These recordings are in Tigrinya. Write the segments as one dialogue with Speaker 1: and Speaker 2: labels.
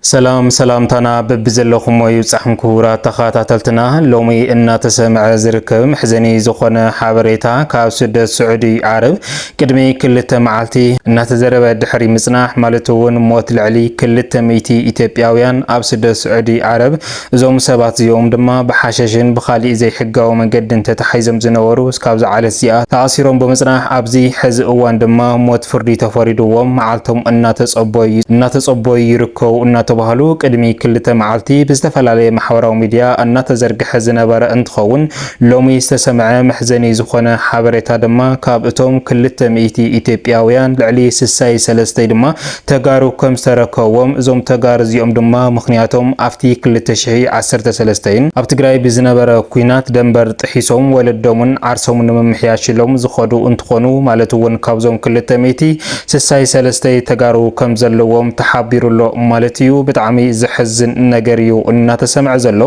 Speaker 1: ሰላም ሰላምታና በቢዘለኹሞ ይብጻሕም ክቡራት ተኻታተልትና ሎሚ እናተሰምዐ ዝርከብ መሕዘኒ ዝኾነ ሓበሬታ ካብ ስደት ስዑዲ ዓረብ ቅድሚ ክልተ መዓልቲ እናተዘረበ ድሕሪ ምጽናሕ ማለት እውን ሞት ልዕሊ ክልተ ሚእቲ ኢትዮጵያውያን ኣብ ስደት ስዑዲ ዓረብ እዞም ሰባት እዚኦም ድማ ብሓሸሽን ብኻሊእ ዘይሕጋዊ መንገድን ተታሒዞም ዝነበሩ እስካብ ዝዓለት እዚኣ ተኣሲሮም ብምፅናሕ ኣብዚ ሕዚ እዋን ድማ ሞት ፍርዲ ተፈሪድዎም መዓልቶም እናተፀበዩ እናተፀበዩ ይርከቡ እናተባህሉ ቅድሚ ክልተ መዓልቲ ብዝተፈላለየ ማሕበራዊ ሚዲያ እናተዘርገሐ ዝነበረ እንትኸውን ሎሚ ዝተሰምዐ መሕዘኒ ዝኾነ ሓበሬታ ድማ ካብ እቶም ክልተ ሚእቲ ኢትዮጵያውያን ልዕሊ ስሳይ ሰለስተይ ድማ ተጋሩ ከም ዝተረከዎም እዞም ተጋር እዚኦም ድማ ምክንያቶም ኣፍቲ ክልተ ሽሒ ዓሰርተ ሰለስተ ን ኣብ ትግራይ ብዝነበረ ኩናት ደንበር ጥሒሶም ወለዶምን ዓርሶምን ንምምሕያሽ ኢሎም ዝከዱ እንትኮኑ ማለት እውን ካብዞም ክልተ ሚእቲ ስሳይ ሰለስተ ተጋሩ ከም ዘለዎም ተሓቢሩ ኣሎ ማለት እዩ ብጣዕሚ ዘሕዝን ነገር እዩ እናተሰምዐ ዘሎ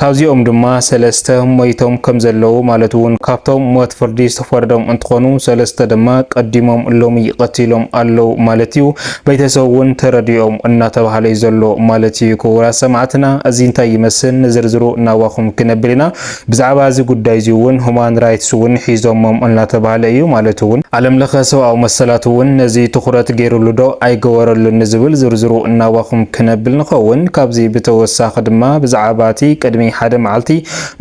Speaker 1: ካብዚኦም ድማ ሰለስተ ሞይቶም ከምዘለዉ ማለት ውን ካብቶም ሞት ፍርዲ ዝተፈረዶም እንትኾኑ ሰለስተ ድማ ቀዲሞም ሎሚ ቐቲሎም ኣለዉ ማለት ዩ ቤተሰብ ውን ተረዲኦም እናተብሃለ ዩ ዘሎ ማለት ዩ ክቡራት ሰማዕትና እዚ እንታይ ይመስል ንዝርዝሩ ናባኹም ክነብል ኢና ብዛዕባ እዚ ጉዳይ እዚ ውን ሁማን ራይትስ ውን ሒዞሞም እናተብሃለ እዩ ማለት ውን ዓለም ለኸ ሰብኣዊ መሰላት ውን ነዚ ትኹረት ገይርሉ ዶ ኣይገበረሉን ንዝብል ዝርዝሩ ናባኹም ክነብል ንኸውን። ካብዚ ብተወሳኺ ድማ ብዛዕባ እቲ ቅድሚ ሓደ መዓልቲ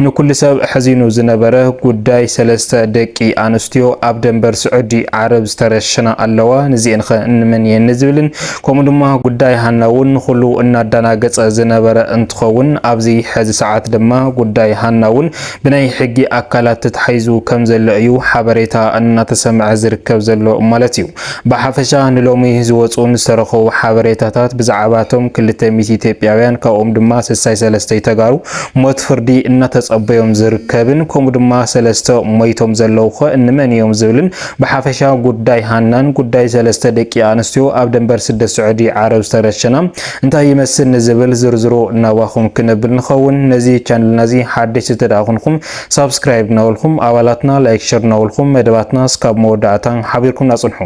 Speaker 1: ንኩሉ ሰብ ኣሕዚኑ ዝነበረ ጉዳይ ሰለስተ ደቂ ኣንስትዮ ኣብ ደንበር ስዑዲ ዓረብ ዝተረሸና ኣለዋ ንዚኤንኸ ንመን እየን ንዝብልን ከምኡ ድማ ጉዳይ ሃና እውን ንኹሉ እናዳናገፀ ዝነበረ እንትኸውን ኣብዚ ሕዚ ሰዓት ድማ ጉዳይ ሃና እውን ብናይ ሕጊ ኣካላት ተታሒዙ ከምዘሎ እዩ ሓበሬታ እናተሰምዐ ዝርከብ ዘሎ ማለት እዩ። ብሓፈሻ ንሎሚ ዝወጹን ዝተረኸቡ ሓበሬታታት ብዛዕባ እቶም ክልተ ሚእቲ ኢትዮጵያውያን ካብኦም ድማ ስሳይ ሰለስተይ ተጋሩ ሞት ፍርዲ እናተጸበዮም ዝርከብን ከምኡ ድማ ሰለስተ ሞይቶም ዘለዉኸ እንመን እዮም ዝብልን ብሓፈሻ ጉዳይ ሃናን ጉዳይ ሰለስተ ደቂ ኣንስትዮ ኣብ ደንበር ስደት ስዑዲ ዓረብ ዝተረሸና እንታይ ይመስል ንዝብል ዝርዝሩ ናባኹም ክነብል ንኸውን ነዚ ቻነልና እዚ ሓደሽቲ እንተደኣ ኩንኹም ሳብስክራይብ እናበልኩም ኣባላትና ላይክ ሸር እናበልኩም መደባትና እስካብ መወዳእታ ሓቢርኩምና ጽንሑ።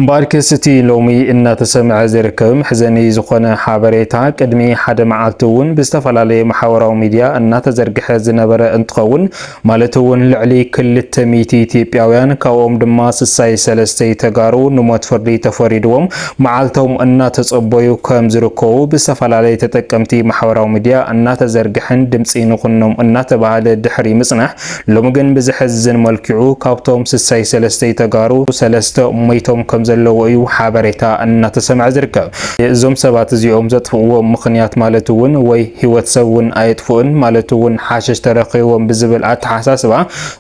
Speaker 1: እምበኣርከስ እቲ ሎሚ እናተሰምዐ ዝርከብ መሕዘኒ ዝኾነ ሓበሬታ ቅድሚ ሓደ መዓልቲ እውን ብዝተፈላለየ ማሕበራዊ ሚድያ እናተዘርግሐ ዝነበረ እንትኸውን ማለት እውን ልዕሊ ክልተ ሚእቲ ኢትዮጵያውያን ካብኦም ድማ ስሳይ ሰለስተይ ተጋሩ ንሞት ፍርዲ ተፈሪድዎም መዓልቶም እናተፀበዩ ከም ዝርከቡ ብዝተፈላለዩ ተጠቀምቲ ማሕበራዊ ሚዲያ እናተዘርግሐን ድምፂ ንኹኖም እናተብሃለ ድሕሪ ምፅናሕ ሎሚ ግን ብዘሕዝን መልክዑ ካብቶም ስሳይ ሰለስተይ ተጋሩ ሰለስተ ሞይቶም ከም ዘለዉ እዩ ሓበሬታ እናተሰምዐ ዝርከብ። እዞም ሰባት እዚኦም ዘጥፍእዎ ምኽንያት ማለት እውን ወይ ህይወት ሰብ እውን ኣየጥፍኡን ማለት እውን ሓሸሽ ተረኺብዎም ብዝብል ኣተሓሳስባ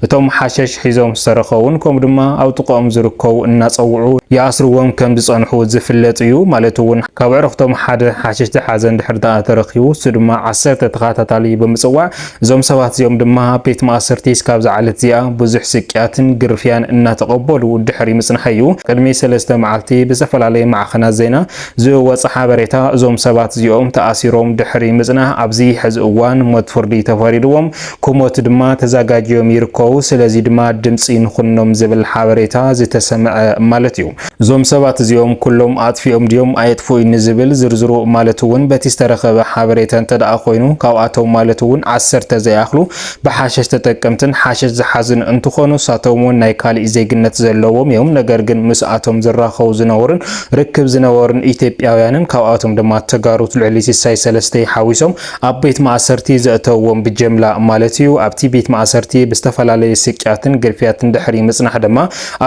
Speaker 1: እቶም ሓሸሽ ሒዞም ዝተረኸቡን ከምኡ ድማ ኣብ ጥቕኦም ዝርከቡ እናፀውዑ ይኣስርዎም ከምዝፀንሑ ዝፍለጥ እዩ። ማለት እውን ካብ ኣዕርኽቶም ሓደ ሓሽሽ ዝሓዘ እንድሕር ድኣ ተረኺቡ ንሱ ድማ ዓሰርተ ተኸታታሊ ብምፅዋዕ እዞም ሰባት እዚኦም ድማ ኣብ ቤት ማእሰርቲ እስካብ ዝዓለት እዚኣ ብዙሕ ስቅያትን ግርፍያን እናተቐበሉ ድሕሪ ምፅንሐ እዩ ቅድሚ ሰለስተ መዓልቲ ብዝተፈላለየ ማዕኸናት ዜና ዝወፀ ሓበሬታ እዞም ሰባት እዚኦም ተኣሲሮም ድሕሪ ምፅናሕ ኣብዚ ሕዚ እዋን ሞት ፍርዲ ተፈሪድዎም ክሞት ድማ ተዛጋጅዮም ይርከቡ ስለዚ ድማ ድምጺ ንኹኖም ዝብል ሓበሬታ ዝተሰምዐ ማለት እዩ። እዞም ሰባት እዚኦም ኩሎም ኣጥፊኦም ድዮም ኣየጥፍኡይን ንዝብል ዝርዝሩ ማለት እውን በቲ ዝተረኸበ ሓበሬታ እንተድኣ ኮይኑ ካብኣቶም ማለት እውን ዓሰርተ ዘይኣኽሉ ብሓሸሽ ተጠቀምትን ሓሸሽ ዝሓዙን እንትኾኑ ንሳቶም እውን ናይ ካሊእ ዜግነት ዘለዎም እዮም ነገር ግን ምስኣቶም ዝራኸቡ ዝነበሩን ርክብ ዝነበሩን ኢትዮጵያውያንን ካብኣቶም ድማ ተጋሩት ልዕሊ ሲሳይ ሰለስተይ ሓዊሶም ኣብ ቤት ማእሰርቲ ዘእተውዎም ብጀምላ ማለት እዩ። ኣብቲ ቤት ማእሰርቲ ብዝተፈላለዩ ስቅያትን ግርፍያትን ድሕሪ ምጽናሕ ድማ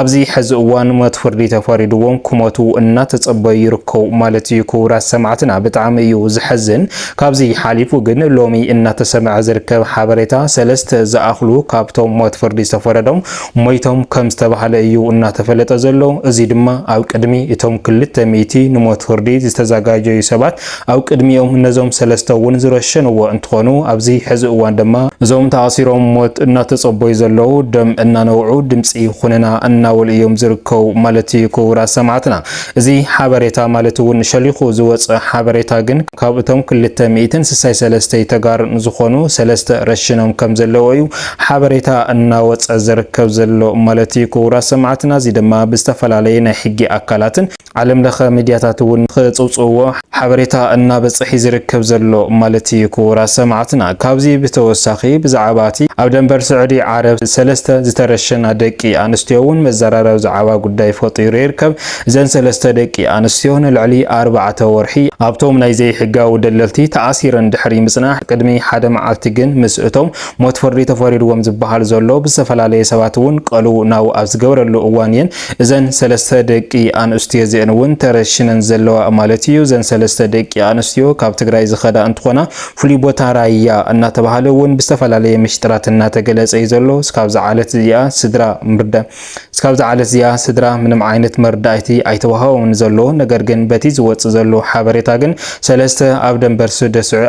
Speaker 1: ኣብዚ ሕዚ እዋን ሞት ፍርዲ ተፈሪድዎም ክሞቱ እናተጸበዩ ይርከቡ ማለት እዩ። ክቡራት ሰማዕትና ብጣዕሚ እዩ ዘሕዝን። ካብዚ ሓሊፉ ግን ሎሚ እናተሰምዐ ዝርከብ ሓበሬታ ሰለስተ ዝኣኽሉ ካብቶም ሞት ፍርዲ ዝተፈረዶም ሞይቶም ከም ዝተባህለ እዩ እናተፈለጠ ዘሎ። እዚ ድማ ኣብ ቅድሚ እቶም ክልተ ሚእቲ ንሞት ፍርዲ ዝተዘጋጀዩ ሰባት ኣብ ቅድሚኦም ነዞም ሰለስተ እውን ዝረሸንዎ እንትኾኑ ኣብዚ ሕዚ እዋን ድማ እዞም ተኣሲሮም ሞት እናተፀበዩ ዘለዉ ደም እናነብዑ ድምፂ ኹንና እናበሉ እዮም ዝርከቡ ማለት እዩ ክቡራት ሰማዕትና እዚ ሓበሬታ ማለት እውን ሸሊኹ ዝወፀ ሓበሬታ ግን ካብ እቶም ክልተ ሚእትን ስሳይ ሰለስተይ ተጋር ንዝኾኑ ሰለስተ ረሽኖም ከም ዘለዎ እዩ ሓበሬታ እናወፀ ዝርከብ ዘሎ ማለት እዩ ክቡራት ሰማዕትና እዚ ድማ ብዝተፈላለየ ናይ ሕጊ ኣካላትን ዓለም ለኸ ሚድያታት እውን ክፅውፅውዎ ሓበሬታ እናበፀሒ ዝርከብ ዘሎ ማለት እዩ ክቡራት ሰማዕትና ካብዚ ብተወሳኺ ብዛዕባ እቲ ኣብ ደንበር ስዑዲ ዓረብ ሰለስተ ዝተረሸና ደቂ ኣንስትዮ እውን መዘራረቢ ዛዕባ ጉዳይ ፈጢሩ ይርከብ እዘን ሰለስተ ደቂ ኣንስትዮ ንልዕሊ ኣርባዕተ ወርሒ ኣብቶም ናይ ዘይሕጋዊ ደለልቲ ተኣሲረን ድሕሪ ምፅናሕ ቅድሚ ሓደ መዓልቲ ግን ምስ እቶም ሞት ፍርዲ ተፈሪድዎም ዝበሃል ዘሎ ብዝተፈላለየ ሰባት እውን ቀልውናው ኣብ ዝገብረሉ እዋን እየን እዘን ሰለስተ ደቂ ኣንእስትዮ እዚኤን እውን ተረሽነን ዘለዋ ማለት እዩ። እዘን ሰለስተ ደቂ ኣንስትዮ ካብ ትግራይ ዝኸዳ እንትኾና ፍሉይ ቦታ ራያ እናተባሃለ እውን ብዝተፈላለየ ምሽጥራት እናተገለፀ እዩ ዘሎ። እስካብዚ ዓለት እዚኣ ስድራ ምርዳ እስካብዚ ዓለት እዚኣ ስድራ ምንም ዓይነት መርዳእቲ ኣይተዋሃቦምን ዘሎ። ነገር ግን በቲ ዝወፅእ ዘሎ ሓበሬታ ግን ሰለስተ ኣብ ደንበር ሱደስዑ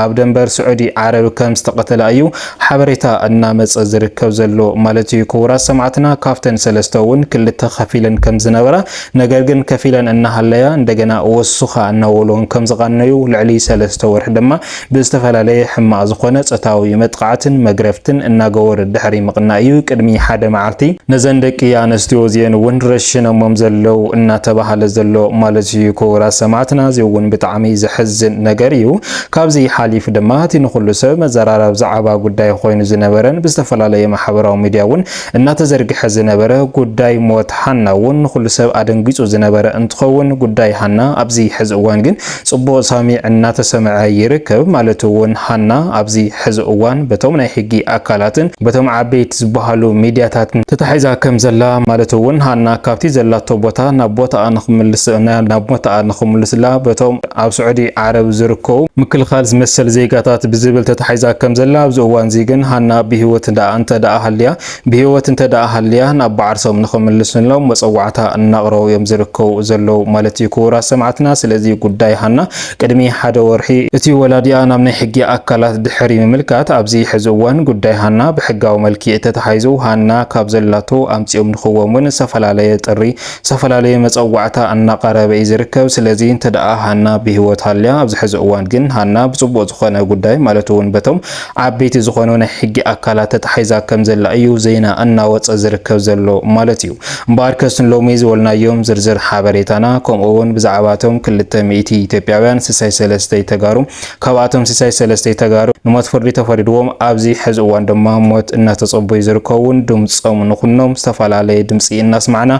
Speaker 1: ኣብ ደንበር ስዑዲ ዓረብ ከም ዝተቐተላ እዩ ሓበሬታ እናመጸ ዝርከብ ዘሎ ማለት እዩ። ክቡራት ሰማዕትና ካብተን ሰለስተ እውን ክልተ ከፊለን ከምዝነበራ ነገር ግን ከፊለን እናሃለያ እንደገና ወሱኻ እናበሉን ከምዝቓነዩ ልዕሊ ሰለስተ ወርሒ ድማ ብዝተፈላለየ ሕማቕ ዝኾነ ጾታዊ መጥቓዕትን መግረፍትን እናገበሩ ድሕሪ ምቕናይ እዩ ቅድሚ ሓደ መዓልቲ ነዘን ደቂ ኣነስትዮ እዚኤን እውን ረሽነሞም ዘለው እናተባሃለ ዘሎ ማለት እዩ። ክቡራት ሰማዕትና እዚ እውን ብጣዕሚ ዘሕዝን ነገር እዩ። ካብዚ ሓሊፉ ድማ እቲ ንኹሉ ሰብ መዘራረብ ዛዕባ ጉዳይ ኾይኑ ዝነበረን ብዝተፈላለየ ማሕበራዊ ሚድያ እውን እናተዘርግሐ ዝነበረ ጉዳይ ሞት ሃና እውን ንኹሉ ሰብ ኣደንጊፁ ዝነበረ እንትኸውን ጉዳይ ሃና ኣብዚ ሕዚ እዋን ግን ፅቡቕ ሳሚዕ እናተሰምዐ ይርከብ ማለት እውን ሃና ኣብዚ ሕዚ እዋን በቶም ናይ ሕጊ ኣካላትን በቶም ዓበይቲ ዝበሃሉ ሚድያታትን ተታሒዛ ከም ዘላ ማለት እውን ሃና ካብቲ ዘላቶ ቦታ ናብ ቦታኣ ንክምልስ ናብ ቦታኣ ንክምልስላ በቶም ኣብ ስዑዲ ዓረብ ዝርከቡ ምክልኻል ዝመሰል ዜጋታት ብዝብል ተታሒዛ ከም ዘላ ኣብዚ እዋንዚ ግን ሃና ብህይወት ደኣ እንተደኣ ሃልያ ብህይወት እንተደኣ ሃልያ ናብ ብዓርሶም ንኽምልስሎም መጸዋዕታ እናቕረቡ እዮም ዝርከቡ ዘለዉ ማለት እዩ ክቡራት ሰማዕትና ስለዚ ጉዳይ ሃና ቅድሚ ሓደ ወርሒ እቲ ወላዲኣ ናብ ናይ ሕጊ ኣካላት ድሕሪ ምምልካት ኣብዚ ሕዚ እዋን ጉዳይ ሃና ብሕጋዊ መልኪዕ ተታሒዙ ሃና ካብ ዘላቶ ኣምጺኦም ንኽዎም እውን ዝተፈላለየ ጥሪ ዝተፈላለየ መጸዋዕታ እናቐረበ እዩ ዝርከብ። ስለዚ እንተደኣ ሃና ብህይወት ሃልያ፣ ኣብዚ ሕዚ እዋን ግን ሃና ብጽቡቕ ዝኾነ ጉዳይ ማለት እውን በቶም ዓበይቲ ዝኾኑ ናይ ሕጊ ኣካላት ተታሒዛ ከም ዘላ እዩ ዜና እናወጸ ዝርከብ ዘሎ ማለት እዩ። እምበኣርከስ ንሎሚ ዝበልናዮም ዝርዝር ሓበሬታና ከምኡ እውን ብዛዕባ እቶም ክልተ ሚእቲ ኢትዮጵያውያን ስሳይ ሰለስተይ ተጋሩ ካብኣቶም ሲሳይ ሰለስተይ ተጋሩ ንሞት ፍርዲ ተፈሪድዎም ኣብዚ ሐዚ እዋን ድማ ሞት እናተፀበዩ ዝርከቡን ድምፆም ንኹኖም ዝተፈላለየ ድምፂ እናስማዕና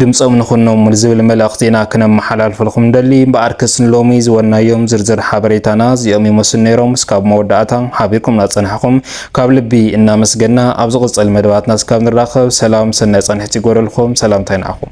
Speaker 1: ድምፆም ንኹኖም ዝብል መልእኽቲ ኢና ክነመሓላልፈልኹም ንደሊ እምበኣር ክስ ንሎሚ ዝበልናዮም ዝርዝር ሓበሬታና እዚኦም ይመስሉ ነይሮም እስካብ መወዳእታ ሓቢርኩም ናፀናሕኹም ካብ ልቢ እናመስገና ኣብ ዝቕፅል መደባትና እስካብ ንራኸብ ሰላም ሰናይ ፃንሒት ይጎደልኹም ሰላምታይ ንዓኹም